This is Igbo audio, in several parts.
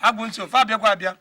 agwụ nsị ofe abịakwa abịa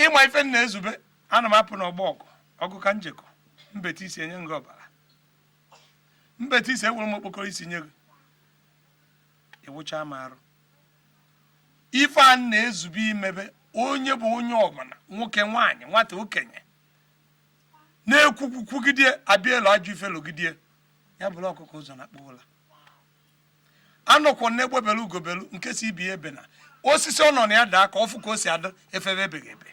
ịma ife m na-ezube ana m apụ n'ọgbọ ọgụ ọgụ ka m jekọ m beta isi enye m gị ọbara m beta isi ewere m okpokoro isi nye gị ị wụcha m arụ ife a m na-ezube imebe onye bụ onye ọbụla nwoke nwaanyị nwata okenye na-ekwukwugide abịa elu ajọ ife lụgidie ya buru ọkụkọ ụzọ nakpuo ụla anọkwọ m n'egbe belu ugo belu nke sị ibe ebena osisi ọ nọ na ya daa ka ọ fụ ka o si adị efebe ebeghị ebe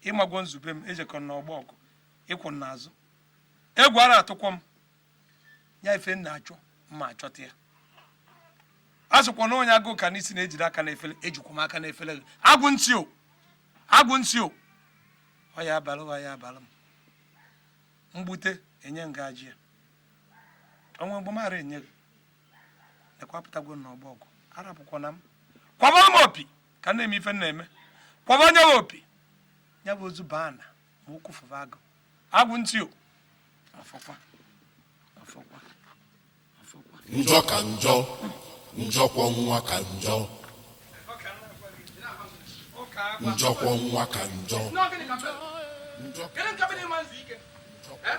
ị magwo nzube m ejekọ m n'ọgbọ ọgụ ị kwụ n'azụ egwu ara atụkwọ m ya ife m na-achọ m ma achọta ya a sịkwa na onye agụụ ka n'isi na-ejide aka n'efele ejikwa m aka n'efele agwụ nsị o agwụ nsị o ọ ya abalụ ọ ya abalụ m m gbute enye ngaji ya o nwe mgbe m ara enye gị ekwapụtagwo n'ọgbọ ọgụ arapụkwana m kwaba m opi ka m na-eme ife m na-eme kwaba onye m opi ya bụ ozu baa na ma okwu fụba agụ agwụ nsị o afọkwa afọkwa afọkwa njọ ka njọ njọkwọ nwa ka njọ njọkwọ nwa ka njọ Kedu nke bụ na ị ma-ezu ike? Eh?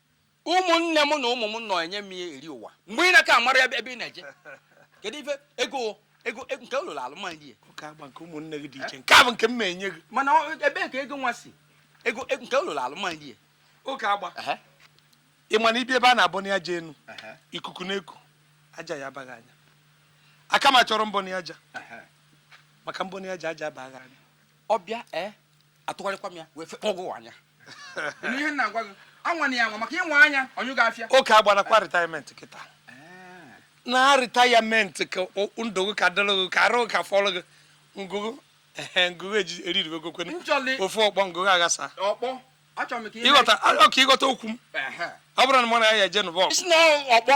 ụmụnne m na ụmụ m nọ enye m ya eri ụwa mgbe ị na-aka amara ebe ị na-eje kedu ife ego ego e, nke ụlọ alụmdi ya oke agba nke ụmụnne gị dị iche nke a bụ nke m na-enye gị mana ebee ka ego nwa si ego e, nke ụlọ alụmdi ya oke agba ị ma na ibi ebe a na-abọ na aja enu ikuku na-eku aja ya abaghị anya aka m achọrọ mbọ na aja maka mbọ na aja aja abaghị anya ọbịa ee eh, atụgharịkwa m ya wee fekpọgụ anya ihe m na-agwa gị anwana ya anwa maka ị nwaa anya ọnyụ ga-afịa oke agbanakwa retirement kịta na retirement ka ndụ gị ka dịrị gị ka arụ gị ka fọrọ gị ngụgụ ngụgụ eririwe gokwene ofu ọkpọ ngụgụ aghasa ịghọta ọka ịghọta okwu m ọ bụrụ na mụ na ya eje nụba ọkpọ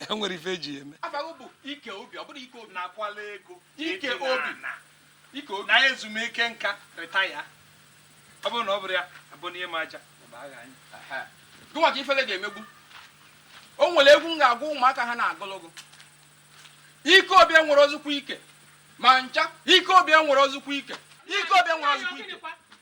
e nwere ife eji eme ike obi ọ bụrụ ike obi na-akwala ego ike obi ike obi na ezumike nka retaya ọ bụrụ na ọ bụrụ ya abụ n'ihe m aja gụnwa ka ifele ga-emegbu o nwere egwu m ga-agwa ụmụaka ha na-agụlụ gị ike obi enwerọ ozukwu ike ma ncha ike obi enwerọ ozukwu ike ike obi enwerọ ozukwu ike